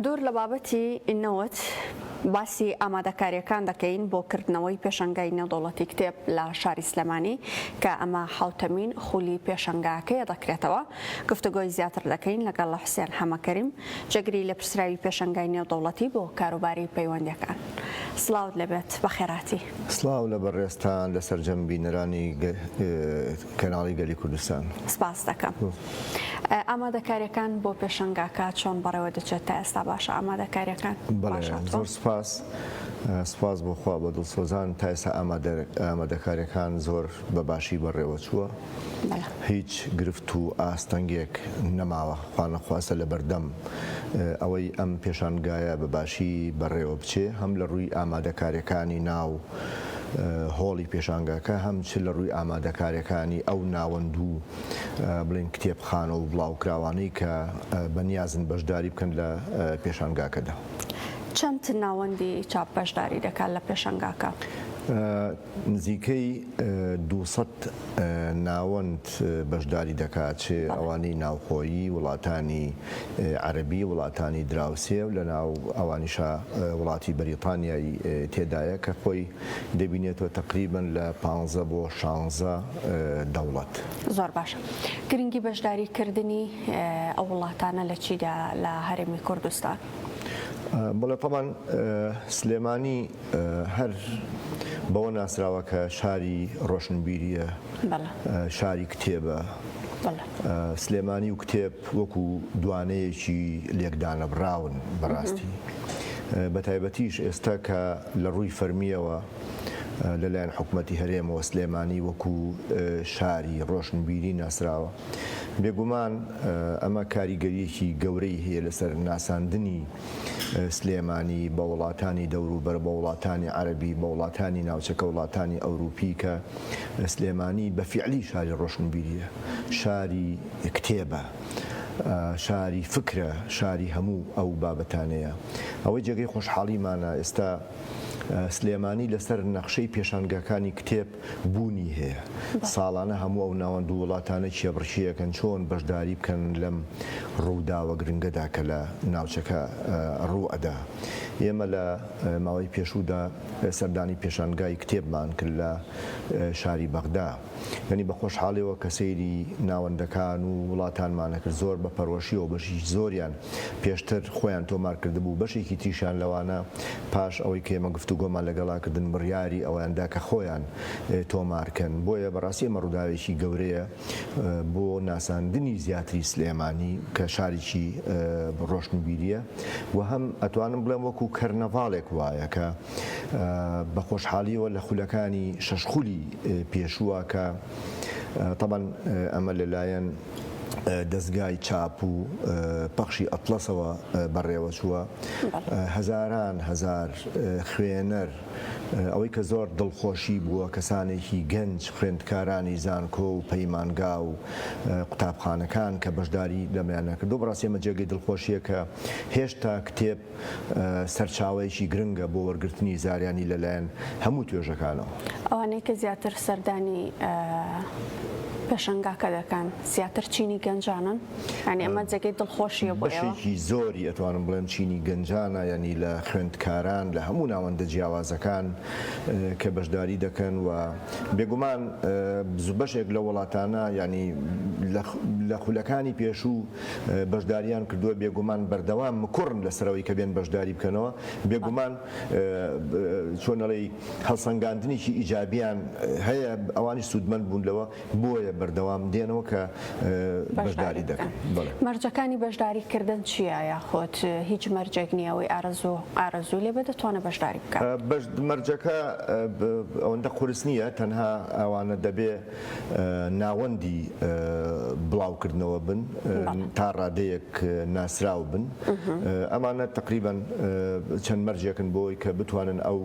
دوور لە بابەتی نەوت، باسی ئامادەکارییەکان دەکەین بۆ کردنەوەی پێشەنگای نێودەوڵەتی کتێب لە شاری سلێمانی، کە ئەمە حەوتەمین خولی پێشەنگاکەیە دەکرێتەوە، گفتوگۆی زیاتر دەکەین لەگەڵ حوسێن حەمەکەریم، جێگری لێپرسراوی پێشەنگای نێودەوڵەتی بۆ کاروباری پەیوەندییەکان. سڵاوت لێبێت، بەخێرهاتی. سڵاو لە بەڕێزتان، لە سەرجەم بینەرانی. کەناڵی گەلی کوردستان. سپاست دەکەم. ئامادەکاریەکان بۆ پێشەنگاکە چۆن بەڕێوە دەچێت تا ئێستا باشە ئامادەکاریەکان؟ بەڵێ زۆر سپاس سپاس بۆ خوا بە دڵسۆزان تا ئێستا ئامادەکاریەکان زۆر بە باشی بەڕێوە چووە هیچ گرفت و ئاستەنگێک نەماوە خوا نەخواستە لە بەردەم ئەوەی ئەم پێشانگایە بە باشی بەڕێوە بچێ هەم لە ڕووی ئامادەکاریەکانی ناو هۆڵی پێشانگاکە هەم چ لە ڕووی ئامادەکاریەکانی ئەو ناوەند و بڵێن کتێبخانە و بڵاوکراوانەی کە بە نیازن بەشداری بکەن لە پێشانگاکەدا. چەند ناوەندی چاپ بەشداری دەکات لە پێشەنگاکە؟ نزیکەی دوو سەد ناوەند بەشداری دەکات چ ئەوانی ناوخۆیی وڵاتانی عەرەبی وڵاتانی دراوسێ و لەناو ئەوانیشا وڵاتی بەریتانیای تێدایە کە خۆی دەبینێتەوە تەقریبەن لە پانزە بۆ شانزە دەوڵەت. زۆر باشە گرنگی بەشداری کردنی ئەو وڵاتانە لە چیدا لە هەرێمی کوردستان؟ بەڵێ تەبعەن سلێمانی. هەر بەوە ناسراوە کە شاری ڕۆشنبیرییە، شاری کتێبە، سلێمانی و کتێب وەکو دوانەیەکی لێکدانەبڕاون بەڕاستی، بەتایبەتیش ئێستا کە لە ڕووی فەرمییەوە لەلایەن حکومەتی هەرێمەوە سلێمانی وەکو شاری ڕۆشنبیری ناسراوە، بێگومان ئەمە کاریگەرییەکی گەورەی هەیە لەسەر ناساندنی. سلێمانی، بە وڵاتانی دەوروبەر، بە وڵاتانی عەرەبی، بە وڵاتانی ناوچەکە، وڵاتانی ئەوروپی کە سلێمانی بە فیعلی شاری ڕۆشنبیرییە، شاری کتێبە، شاری فکرە، شاری هەموو ئەو بابەتانەیە. ئەوەی جێگەی خۆشحاڵیمانە ئێستا سلێمانی لەسەر نەخشەی پێشانگاکانی کتێب، بوونی هەیە ساڵانە هەموو ئەو ناوەند و وڵاتانە کێبڕکێ ئەکەن چۆن بەشداری بکەن لەم ڕووداوە گرنگەدا کە لە ناوچەکە ڕوو ئەدا ئێمە لە ماوەی پێشوودا سەردانی پێشانگای کتێبمان کرد لە شاری بەغدا یانی بە خۆشحاڵیەوە کە سەیری ناوەندەکان و وڵاتانمانەکرد زۆر بە پەرۆشیەوە بەشی زۆریان پێشتر خۆیان تۆمار کردبوو، بەشێکی تریشیان لەوانە پاش ئەوەی کە ئێمە گفتوگۆمان لەگەڵا کردن بڕیاری ئەوەیان دا کە خۆیان تۆمار کەن، بۆیە بەڕاستی ئەمە ڕووداوێکی گەورەیە بۆ ناساندنی زیاتری سلێمانی کە شاریکی ڕۆشنبیریە و هەم ئەتوانم بڵێم وەکو کەرنەڤاڵێک وایە کە بە خۆشحالیەوە لە خولەکانی شەش خولی پێشووە کە تەبەن ئەمە لەلایەن دەزگای چاپ و پەخشی ئەتڵەسەوە بەڕێوەچووە هەزاران هەزار خوێنەر ئەوەی کە زۆر دڵخۆشی بووە کەسانێکی گەنج خوێندکارانی زانکۆ و پەیمانگا و قوتابخانەکان کە بەشداری لەمیانە کردووە بەڕاستی ئەمە جێگەی دڵخۆشیە کە هێشتا کتێب سەرچاوەیەکی گرنگە بۆ وەرگرتنی زاریانی لەلایەن هەموو توێژەکانەوە. ئەوانەی کە زیاتر سەردانی پێشەنگاکە دەکەن زیاتر چینی گەنجانن ینی ئەمە جێگەی دڵخۆشیە بۆ ئێوە؟ بەشێکی زۆری ئەتوانم بڵێم چینی گەنجانە ینی لە خوێندکاران لە هەموو ناوەندە جیاوازەکان کە بەشداری دەکەن و بێگومان بەشێک لە وڵاتانە ینی لە خولەکانی پێشوو بەشداریان کردووە بێگومان بەردەوام مکوڕن لەسەرەوەی کە بێن بەشداری بکەنەوە بێگومان چۆن ئەڵێی هەڵسەنگاندنێکی ئیجابیان هەیە ئەوانیش سوودمەند بوون لەوە بۆیە بەردەوام دێنەوە کە بەشداری دەکەن مەرجەکانی بەشداری کردن چییە یاخۆت هیچ مەرجێک نییە ئەوەی ئارەزوو ئارەزوو لێ بە دەتوانە بەشداری بکە مەرجەکە ئەوەندە قورس نییە تەنها ئەوانە دەبێ ناوەندی بڵاوکردنەوە بن تا ڕادەیەک ناسراو بن ئەمانە تەقریبەن چەند مەرجێکن بۆی کە بتوانن ئەو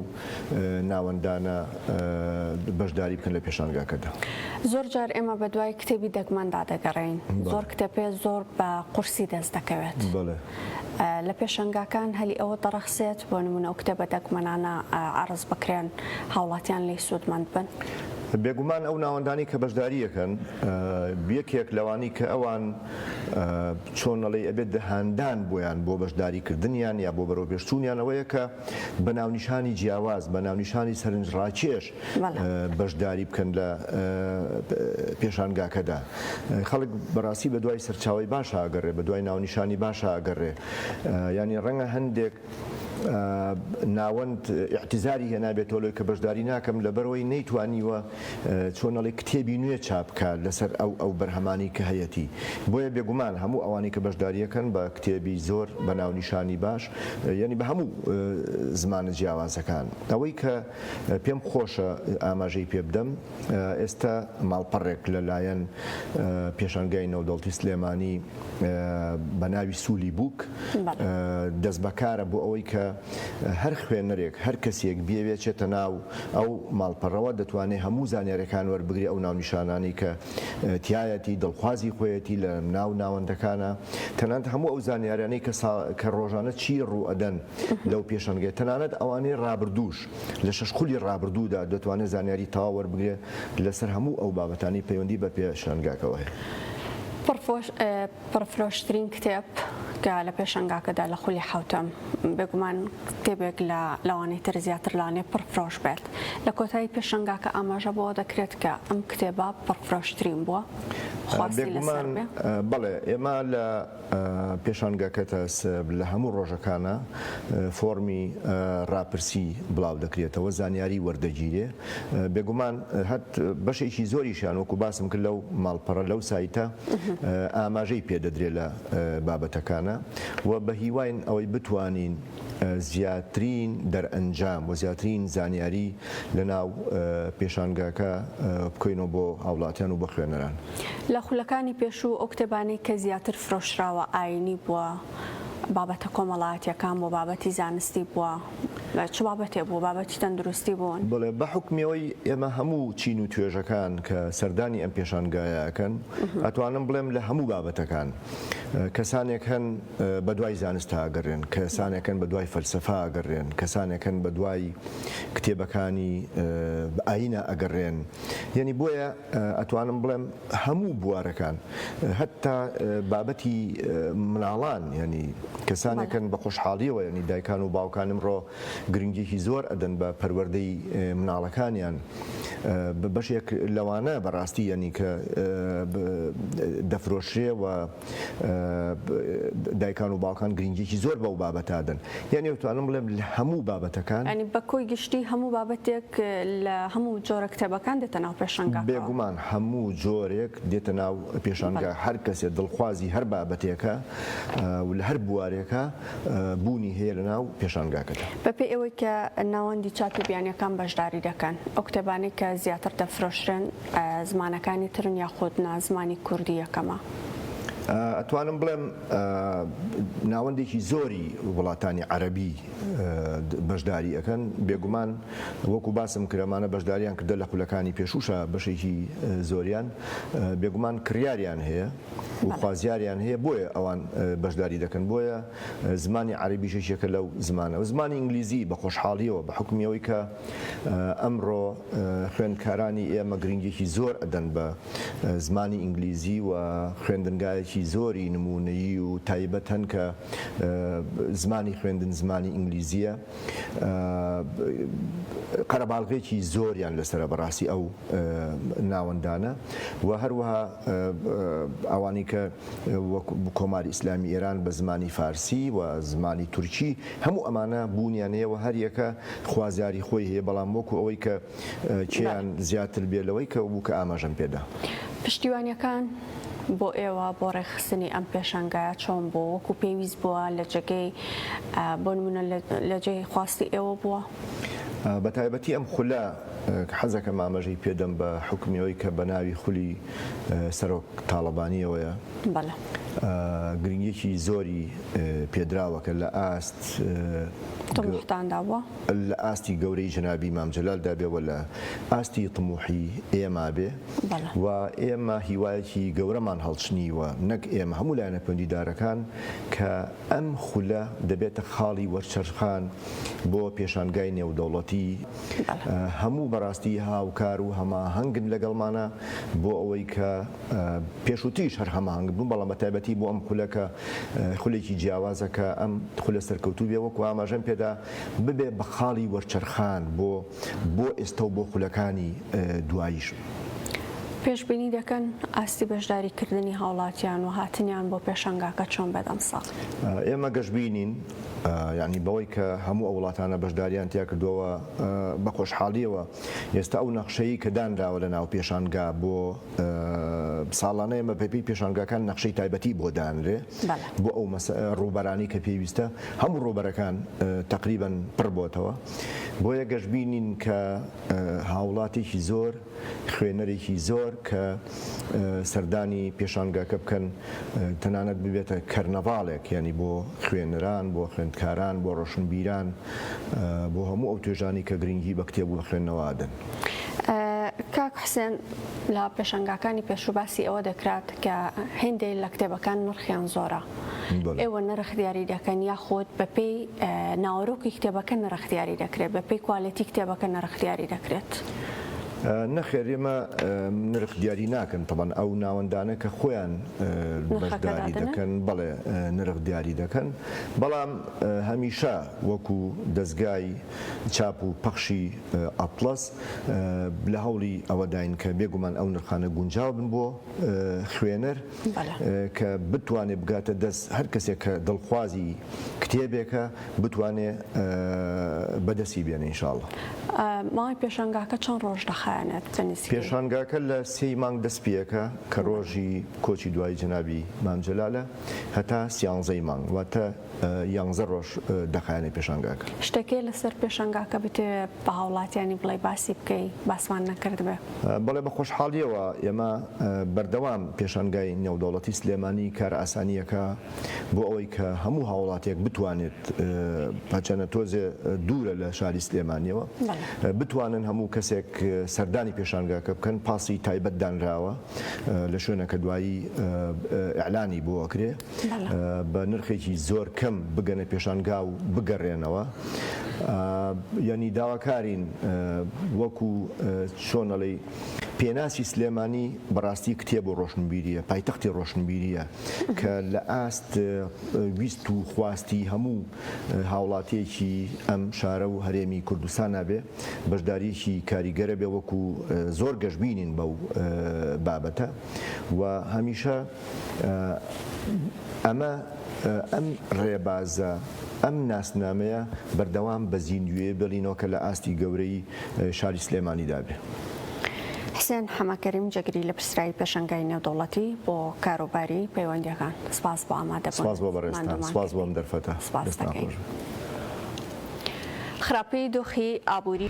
ناوەندانە بەشداری بکەن لە پێشانگاکەدا. زۆر جار ئێمە بە دوای کتێبی دەگمەندا دەگەڕێین زۆر کتێپێ زۆر بە قورسی دەست دەکەوێت. لە پێشەنگاکان هەلی ئەوە دەڕەخسێت بۆ نموونە ئەو کتێبە دەگمەنانە عەڕز بکرێن هاوڵاتیان لێی سوودمەند بن. بێگومان ئەو ناوەندانەی کە بەشداری ئەکەن یەکێک لەوانەی کە ئەوان چۆن ئەڵێی ئەبێت دە هاندان بۆیان بۆ بەشداری کردنیان یا بۆ بەرەوپێشچوونیان ئەوەیە کە بە ناونیشانی جیاواز بە ناونیشانی سەرنجڕاکێش بەشداری بکەن لە پێشانگاکەدا خەڵک بەڕاستی بە دوای سەرچاوی باشە ئەگەڕێ بە دوای ناونیشانی باشە ئەگەڕێ ینی ڕەنگە هەندێک ناوەند احتیزاری هێنابێت تۆلۆی کە بەشداری ناکەم لە بەرەوەی نەیتوانیوە چۆنەڵی کتێبی نوێ چاپکە لەسەر ئەو ئەو بەرهەمانی کە هەیەی بۆیە بێگومان هەموو ئەوانی کە بەشداریەکەن بە کتێبی زۆر بە ناونیشانی باش یعنی بە هەموو زمانە جیاوازەکان ئەوەی کە پێم خۆشە ئاماژەی پێ بدەم، ئێستا ماڵپەڕێک لە لایەن پێشانگای نەودەوڵتی سلێمانی بە ناوی سولی بووک دەستبەکارە بۆ ئەوەی کە هەر خوێنەرێک هەر کەسێک بیەوێت چێتە ناو ئەو ماڵپەڕەوە دەتوانێت هەموو زانیاریەکان وەربگرێت ئەو ناونیشانانەی کە تیایەتی دڵخوازی خۆیەتی لە ناو ناوەندەکانە تەنانەت هەموو ئەو زانیاریانەی کە ڕۆژانە چی ڕوو ئەدەن لەو پێشەنگەیە، تەنانەت ئەوانەی ڕابردووش، لە شەش خولی ڕابردوودا دەتوانێت زانیاری تەواو وەربگرێت لەسەر هەموو ئەو بابەتانەی پەیوەندی بە پێشەنگاکەوە هەیە. پڕفرۆشترین کتێب کە لە پێشەنگاکەدا لە خولی حەوتەم، بێگومان کتێبێک لە لەوانەی تر زیاتر لەوانەیە پڕفرۆش بێت. لە کۆتایی پێشەنگاکە ئاماژە بەوە دەکرێت کە ئەم کتێبە پڕفرۆشترین بووە. خواستی لەسەر بێت. بێگومان بەڵێ، ئێمە لە. پێشانگەکە تا ئێستا لە هەموو ڕۆژەکانە فۆڕمی ڕاپرسی بڵاو دەکرێتەوە، زانیاری وەردەگیرێ. بێگومان هەر بەشێکی زۆریشیان وەکو باسم کرد لەو ماڵپەڕە، لەو سایتە ئاماژەی پێ دەدرێ لە بابەتەکانە و بە هیواین ئەوەی بتوانین زیاترین دەرئەنجام و زیاترین زانیاری لە ناو پێشانگاکە بکەینەوە بۆ هاوڵاتیان و بۆ خوێنەران. لە خولەکانی پێشوو ئەو کتێبانەی کە زیاتر فرۆشراوە ئایینی بووە، بابەتە کۆمەڵایەتییەکان بووە، بابەتی زانستی بووە، چ بابەتێ بوو، بابەتی تەندروستی بوون. بەڵێ، بە حوکمی ئەوەی ئێمە هەموو چین و توێژەکان کە سەردانی ئەم پێشانگایە ئەکەن، ئەتوانم بڵێم لە هەموو بابەتەکان کەسانێک هەن بە دوای زانستا ئەگەڕێن، کەسانێک هەن بە دوای فەلسەفە ئەگەڕێن، کەسانێک هەن بە دوای کتێبەکانی ئایینە ئەگەڕێن، یەنی بۆیە ئەتوانم بڵێم هەموو بوارەکان هەتا بابەتی مناڵان یانی کەسانێکن بە خۆشحاڵیەوە ینی دایکان و باوکان ئمڕۆ گرنگیەکی زۆر ئەدەن بە پەروەردەی مناڵەکانیان بەشێک لەوانە بەڕاستی یانی کە دەفرۆشرێ و دایکان و باوکان گرنگیەکی زۆر بەو بابەتادەن یانی وتوانم بڵێم لە هەموو بابەتەکان ئەنی بە کۆی گشتی هەموو بابەتێک لە هەموو جۆرە کتێبەکان دێتە ناو پێشنگا بێگومان هەموو جۆرێک دێتە ناو پێشانگا هەر کەسێ دڵخوازی هەر بابەتێکە و لە هەر بوارێکە بوونی هەیە لە ناو پێشانگاکەدا بە پێ ئەوەی کە ناوەندی چاپی بیانیەکان بەشداری دەکەن ئەو کتێبانەی کە زیاتر دەفرۆشرێن زمانەکانی ترن یاخود نا زمانی کوردی یەکەمە؟ ئەتوانم بڵێم ناوەندێکی زۆری وڵاتانی عەرەبی بەشداری ئەکەن بێگومان وەکو باسم کرد ئەمانە بەشداریان کردە لە خولەکانی پێشووشا بەشێکی زۆریان بێگومان کڕیاریان هەیە و خوازیاریان هەیە بۆیە ئەوان بەشداری دەکەن بۆیە زمانی عەرەبیش یەکێکە لەو زمانە و زمانی ئینگلیزی بە خۆشحاڵیەوە بە حوکمی ئەوەی کە ئەمڕۆ خوێندکارانی ئێمە گرنگیەکی زۆر ئەدەن بە زمانی ئینگلیزی و خوێندنگایەکی زۆری نموونەیی و تایبەتن کە زمانی خوێندن زمانی ئینگلیزیە قەرەباڵغێکی زۆریان لەسەرە بەڕاستی ئەو ناوەندانە و هەروەها ئەوانی کە وەک کۆماری ئیسلامی ئێران بە زمانی فارسی و زمانی تورکی هەموو ئەمانە بوونیان هەیە و هەر یەکە خوازیاری خۆی هەیە بەڵام وەکو ئەوەی کە کێیان زیاتر بێ لەوەی کە بوو کە ئاماژەم پێ دا. پشتیوانیەکان بۆ ئێوە بۆ ڕێکخستنی ئەم پێشانگایە چۆن بوو؟ وەکو پێویست بووە لە جێگەی بۆ نموونە لە جێی خواستی ئێوە بووە؟ بە تایبەتی ئەم خولە حەزەکەم ئامەژەی پێدەم بە حوکمی ئەوەی کە بە ناوی خولی سەرۆک تاڵەبانییەوەیە. بەڵێ. گرنگییەکی زۆری پێدراوە کە لە ئاست. طموحتاندا بووە. لە ئاستی گەورەی جەنابی مام جەلالدا بێ و لە ئاستی طموحی ئێمە بێ. بەڵێ. و ئێمە هیوایەکی گەورەمان هەڵچنیوە، نەک ئێمە، هەموو لایەنە پەیوەندیدارەکان، کە ئەم خولە دەبێتە خاڵی وەرچەرخان بۆ پێشانگای نێودەوڵەتی. هەموو بەراستی هاوکار و هەماهەنگن لەگەڵمانا بۆ ئەوەی کە پێشوتریش هەر هەماهەنگ بوون بەڵام بەتایبەتی بۆ ئەم خولە کە خولێکی جیاوازە کە ئەم خولە سەرکەوتوو بێ وەکو ئاماژەم پێدا ببێ بە خاڵی وەرچەرخان بۆ بۆ ئێستا و بۆ خولەکانی دواییش. پێشبینی دەکەن ئاستی بەشداری کردنی هاوڵاتیان و هاتنیان بۆ پێشەنگاکە چۆن بێت ئەمساڵ؟ ئێمە گەشبینین یەعنی بەوەی کە هەموو ئەو وڵاتانە بەشدارییان تیا کردووەوە بە خۆشحاڵییەوە ئێستا ئەو نەخشەی کە دانراوە لە ناو پێشانگا بۆ ساڵانە ئێمە بەپێی پێشانگاکان نەخشەی تایبەتی بۆ دانرێ بۆ ئەو ڕووبەرانەی کە پێویستە هەموو ڕووبەرەکان تەقریبەن پڕ بۆتەوە بۆیە گەشبینین کە هاوڵاتیی زۆر خوێنەرێکی زۆر کە سەردانی پێشانگاکە بکەن تەنانەت ببێتە کەرنەڤاڵێک یانی بۆ خوێنەران بۆ خوێندکاران بۆ ڕۆشنبیران بۆ هەموو ئەو توێژانی کە گرنگی بە کتێب و بە خوێندنەوە ئەدەن. کاک حسێن لە پێشەنگاکانی پێشوو باسی ئەوە دەکرات کە هێندێک لە کتێبەکان نرخیان زۆرە ئێوە نرخ دیاری دەکەن یاخود بەپێی ناوەرۆکی کتێبەکە نرخ دیاری دەکرێت بەپی کوالەتی کتێبەکە نرخ دیاری دەکرێت. نەخێر ئێمە نرخ دیاری ناکەن تەبەن ئەو ناوەندانە کە خۆیان بەشداری دەکەن بەڵێ نرخ دیاری دەکەن بەڵام هەمیشە وەکو دەستگای چاپ و پەخشی ئەتڵەس لە هەوڵی ئەوەداین کە بێگومان ئەو نرخانە گونجاو بن بۆ خوێنەر کە بتوانێ بگاتە دەست هەر کەسێک کە دڵخوازی کتێبێکە بتوانێ بەدەستی بێنێ ان شاء اللە. ماوەی پێشانگاکە چەند ڕۆژ دەخایەنێت بە نزیک؟ پێشانگاکە لە سێی مانگ دەست پێەکە کە ڕۆژی کۆچی دوایی جەنابی مام جەلالە هەتا سیانزەی مانگ واتە یانزە ڕۆژ دەخایەنێ پێشانگاکە. شتەکێ لەسەر پێشەنگاکە بتەوێ بە هاوڵاتیانی بڵێی باسی بکەی باسمان نەکردبێ. بەڵێ بە خۆشحاڵیەوە ئێمە بەردەوام پێشانگای نێودەوڵەتی سلێمانی کارئاسانیەکە بۆ ئەوەی کە هەموو هاوڵاتیەک بتوانێت هەچەنە تۆزێ دوورە لە شاری سلێمانیەوە بتوانن هەموو کەسێک سەردانی پێشانگاکە بکەن پاسی تایبەت دانراوە لە شوێنەکە دوایی ئیعلانی بۆ ئەکرێ. بە نرخێکی زۆر کەم بگەنە پێشانگا و بگەڕێنەوە ینی داواکارین وەکو چۆنەڵی پێناسی سلێمانی بەڕاستی کتێب و ڕۆشنبیریە پایتەختی ڕۆشنبیریە کە لە ئاست ویست و خواستی هەموو هاوڵاتیەکی ئەم شارە و هەرێمی کوردستان نابێ بەشداریەکی کاریگەرە بێ وەکو زۆر گەشببینین بەو بابەتە و هەمیشە ئەمە ئەم ڕێبازە ئەم ناسنامەیە بەردەوام بە زیندووێ بێڵینەوە کە لە ئاستی گەورەی شاری سلێمانی دا بێ. حسێن حەمە کەریم جێگری لە پرسراوی پێشەنگای نێودەوڵەتی بۆ کاروباری پەیوەندیەکان سپاس بۆ ئامادە بوون. سپاس بۆ بەڕێزتان. سپاس بۆ ئەم دەرفەتە. دەستان خۆش بێت. خراپی دۆخی ئابووری.